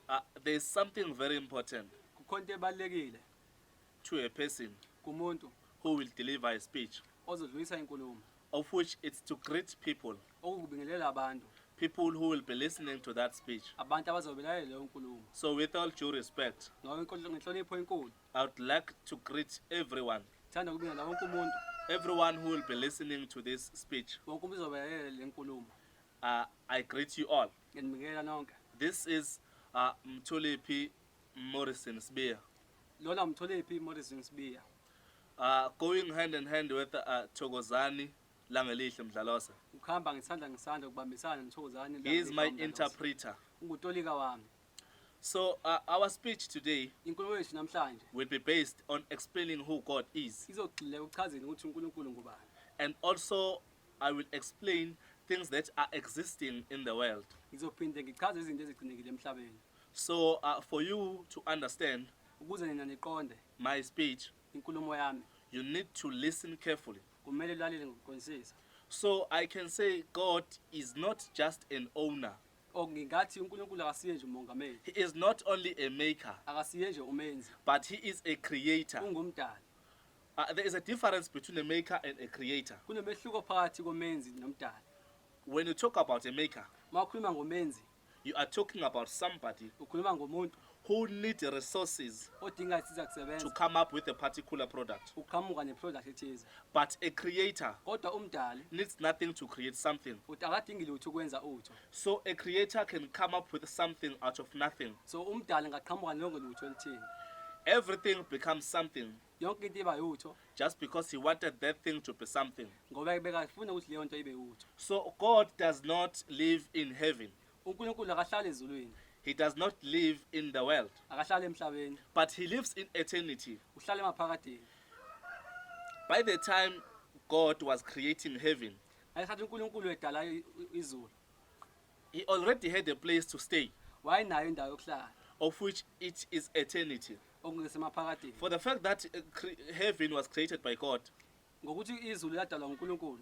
Uh, there is something very important kukhona into ebalulekile to a person kumuntu who will deliver a speech ozodlulisa inkulumo of which it's to greet people okukubingelela abantu people who will be listening to that speech abantu abazobe belalela leyo nkulumo so with all due respect ngenhlonipho enkulu i would like to greet everyone thanda ukubingelela wonke umuntu everyone who will be listening to this speech wonke umuntu uzobe belalela le nkulumo Uh, I greet you all. Nginibikela nonke. This is uh, Mthulephi Morrison Sbiya. Lona Mthulephi Morrison Sbiya. Uh, going hand in hand with uh, Thokozani Langelihle Mdlalose. Ukhamba ngisandla ngisandla ukubambisana noThokozani Langelihle. He is my interpreter. Ungutolika wami. So uh, our speech today inkulumo yethu namhlanje will be based on explaining who God is. Izogxile ukuchazeni ukuthi uNkulunkulu ngubani. And also I will explain things that are existing in the world. Ngizophinde ngichaze izinto ezigcinekile emhlabeni. So uh, for you to understand ukuze nina niqonde my speech, inkulumo yami, you need to listen carefully. Kumele ulalele ngokuqondisisa. So I can say God is not just an owner. Okungathi uNkulunkulu akasiye nje umongameli. He is not only a maker. Akasiye nje umenzi. But he is a creator. Ungumdali. Uh, there is a difference between a maker and a creator. Kunomehluko phakathi komenzi nomdali. When you talk about a maker, mawukhuluma ngomenzi, you are talking about somebody ukhuluma ngomuntu who need resources odinga isiza kusebenza to come up with a particular product. Uqhamuka neproduct ethize. But a creator kodwa umdali needs nothing to create something. Uthi akadingi lutho ukwenza utho. So a creator can come up with something out of nothing. So umdali ngaqhamuka nonke lutho elithini. Everything becomes something. yonke into iba yutho just because he wanted that thing to be something. ngoba bekafuna ukuthi leyo nto ibe yutho So God does not live in heaven, unkulunkulu akahlali ezulwini He does not live in the world, akahlali emhlabeni but He lives in eternity. uhlala emaphakadeni By the time God was creating heaven, ngesikhathi unkulunkulu edala i- i- izulu He already had a place to stay, wayenayo indawo yokuhlala of which it is eternity. okungesemaphakadeni For the fact that uh, cre- heaven was created by God, ngokuthi izulu ladalwa ngunkulunkulu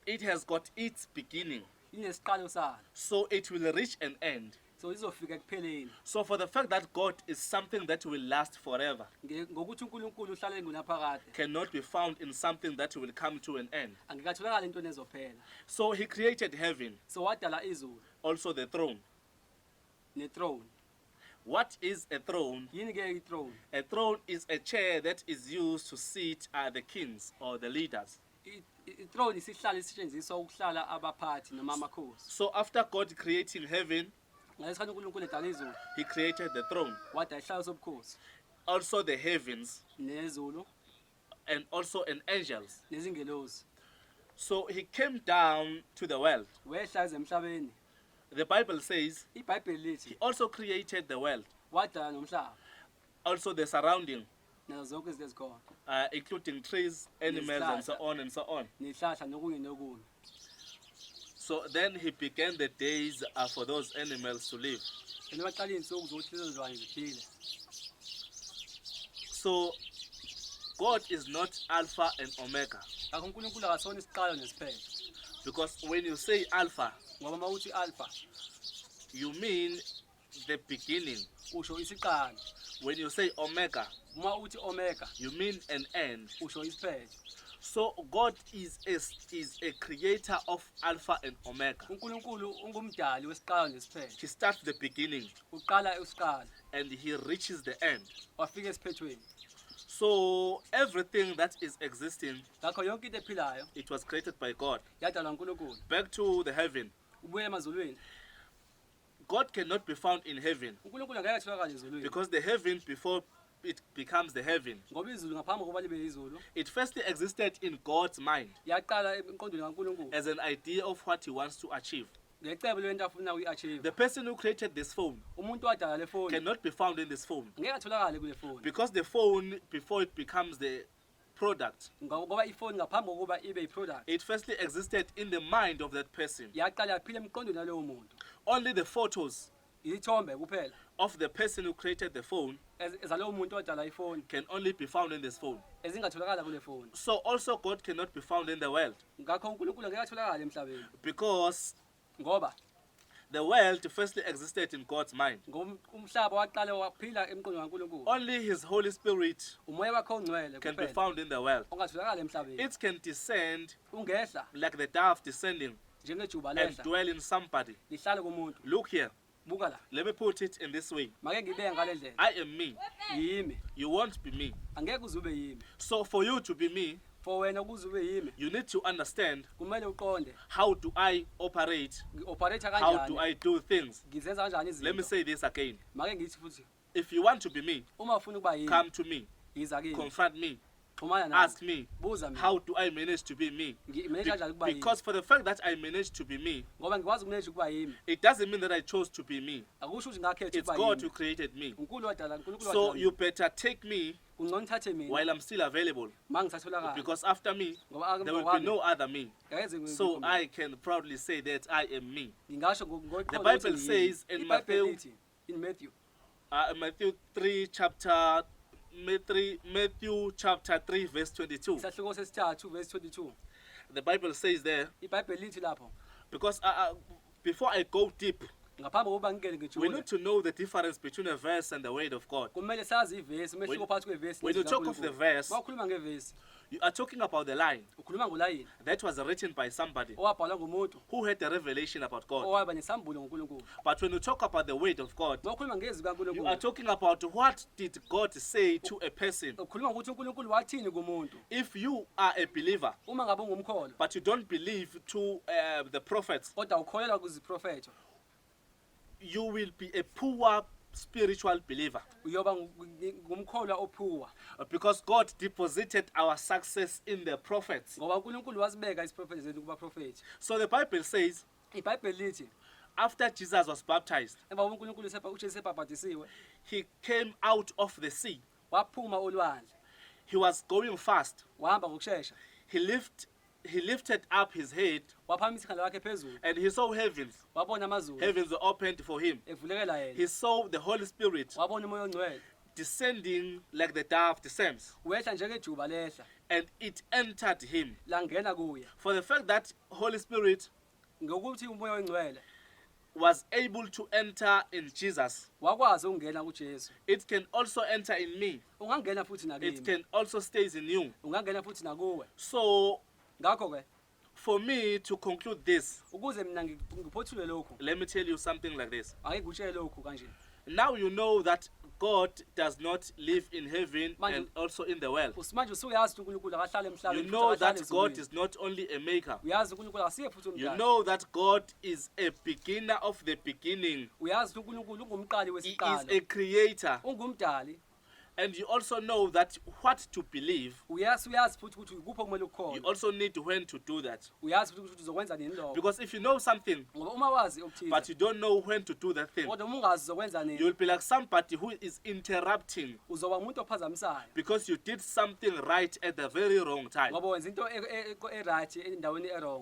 it has got its beginning, inesiqalo salo so it will reach an end. so izofika ekupheleni So, for the fact that God is something that will last forever, Nge- ngokuthi unkulunkulu uhlale ngunaphakade cannot be found in something that will come to an end. angikatholakali entweni ezophela So he created heaven. So wadala izulu. Also the throne. Ne throne. What is a throne? Yini ke i-throne? A throne is a chair that is used to sit uh, the kings or the leaders. I-throne isihlalo esisetshenziswa ukuhlala abaphathi noma amakhosi. So after God creating heaven, ngesikhathi uNkulunkulu edala izulu, he created the throne. Wadala isihlalo sobukhosi. Also the heavens. Nezulu. and also in angels. nezingelosi So he came down to the world. wehla eze emhlabeni The Bible says ibhayibheli he lithi also created the world, wadala nomhlaba also the surrounding, nazo zonke izinto ezikhona uh, including trees, animals, and so on and so on. nezihlahla nokunye nokunye So then he began the days uh, for those animals to live. And baqala izinsuku zokuthi lezo zilwane ziphile. So God is not Alpha and Omega. Ngakho uNkulunkulu akasona isiqalo nesiphelo. Because when you say Alpha, ngoba mawuthi Alpha, you mean the beginning usho isiqalo when you say omega uma uthi omega you mean an end usho isiphetho so god is a, is a creator of alpha and omega unkulunkulu ungumdali wesiqalo nesiphetho he starts the beginning uqala isiqalo and he reaches the end wafika esiphethweni so everything that is existing ngakho yonke into ephilayo it was created by god yadalwa unkulunkulu back to the heaven ubuye emazulwini God cannot be found in heaven uNkulunkulu angeke atholakale ezulwini because the heaven before it becomes the heaven. ngoba izulu ngaphambi kokuba libe izulu It firstly existed in God's mind yaqala emqondweni kaNkulunkulu as an idea of what he wants to achieve. ngecebo lento afuna uyi-achieve The person who created this phone umuntu wadala le foni cannot be found in this phone ngeke atholakale kule foni because the phone, before it becomes the product ngoba ifoni ngaphambi kokuba ibe iproduct it firstly existed in the mind of that person yaqala yaphila emqondweni walowo muntu only the photos ithombe kuphela of the person who created the phone ez- zalowo muntu odala ifoni can only be found in this phone ezingatholakala kule foni so also god cannot be found in the world ngakho unkulunkulu ngeke atholakale emhlabeni because Ngoba the world firstly existed in God's mind. Ngom- Umhlaba waqala waphila emqondo kaNkulunkulu. Only His Holy Spirit Umoya wakhe ongcwele can be kuphela found in the world. ongatholakala emhlabeni. It can descend Ungehla like the dove descending njengejuba and lehla dwell in somebody. lihlale kumuntu. Look here. buka la Let me put it in this way. make ngibeke ngale ndlela I am me. yimi You won't be me. angeke uze ube yimi So for you to be me, for wena ukuze ube yimi you need to understand kumele uqonde how do I operate? ngi-operator How do kanjani I do things? ngizenza kanjani Let me izinto say this again. make ngithi futhi If you want to be me, uma ufuna ukuba yini come to me, yiza kimi confront me, xhumana nami ask me, buza mina how do I manage to be me? ngimeneja Be- kanjani ukuba yini because for the fact that I managed to be me, ngoba ngikwazi ukumeneja ukuba yimi it doesn't mean that I chose to be me. akusho ukuthi ngakhetha It's ukuba God who yimi created me. unkulu wadala unkulunkulu So wadala you better take me kungcono uthathe mina while I'm still available ma ngisatholakala because after me, ngoba ake there will be ngokwami no other me. ngeke ngize So ngikhuluma. I can proudly say that I am me. ngingasho ngo- ngo- The ngokuthi Bible ngiyimi. says in IBhayibheli Matthew lithi, in Matthew. Uh, Matthew 3 chapter Matthew, Matthew chapter 3 verse 22. Isahluko sesithathu verse 22. The Bible says there IBhayibheli lithi lapho because uh, uh, before I go deep, ngaphambi kokuba ngingene we ngijule need to know the difference between a verse and the word of God. kumele sazi ivesi umehluko When- phakathi kwevesi when you talk of the verse- mawukhuluma ngevesi You are talking about the line ukhuluma ngolayini that was written by somebody owabhalwa ngumuntu who had a revelation about God. owaba nesambulo ngonkulunkulu But when you talk about the word of God, uma ukhuluma ngezwi you are kankulunkulu talking about what did God say to a person. ukhuluma ngokuthi unkulunkulu wathini kumuntu If you are a believer, uma ngabe ungumkholwa but you don't believe to uh, the prophets, kodwa ukholelwa kuziprofetho you will be a poor spiritual believer uyoba ngu- ngi- ngumkholwa ophuwa because God deposited our success in the prophets. ngoba unkulunkulu wasibeka isiprofethi zethu kubaprofethi So the Bible says, ibhayibheli lithi after Jesus was baptized, emva kokuba unkulunkulu sepa- ujesu sebhabhadisiwe he came out of the sea. waphuma olwandle He was going fast. wahamba ngokushesha He lift he lifted up his head waphakamisa ikhanda lakhe phezulu and he saw heavens. wabona amazulu Heavens were opened for him. evulekela He yena saw the Holy Spirit wabona umoya ongcwele descending like the dove descends wehla njengejuba lehla and it entered him. langena kuye For the fact that Holy Spirit Ngokuthi uMoya oNgcwele. Was able to enter in Jesus. Wakwazi ukungena kuJesu. It can also enter in me. Ungangena futhi nakimi. It can also stays in you. Ungangena futhi nakuwe. So ngakho ke for me to conclude this ukuze mina ngiphothule lokhu let me tell you something like this ake ngikutshele lokhu kanje Now you know that God does not live in heaven Manje- and also in the world. usimanje usuyazi ukuthi unkulunkulu akahlale emhlabeni You futhi know akahlale that God ezulwini. is not only a maker. uyazi unkulunkulu akasiye futhi You umdali know that God is a beginner of the beginning. uyazi ukuthi unkulunkulu ungumqali He is a wesiqalo creator. ungumdali and you also know that what to believe uyazi uyazi futhi ukuthi ikuphi okumele you ukukhona also need when to do that uyazi futhi ukuthi uzokwenza nini lokho because if you know something ngoba uma wazi but okuthize you don't know when to do that thing kodwa uma ungazi uzokwenza nini you'll be like somebody who is interrupting uzoba umuntu ophazamisayo because you did something right at the very wrong time ngoba wenza into e- e- e- e-right endaweni e-wrong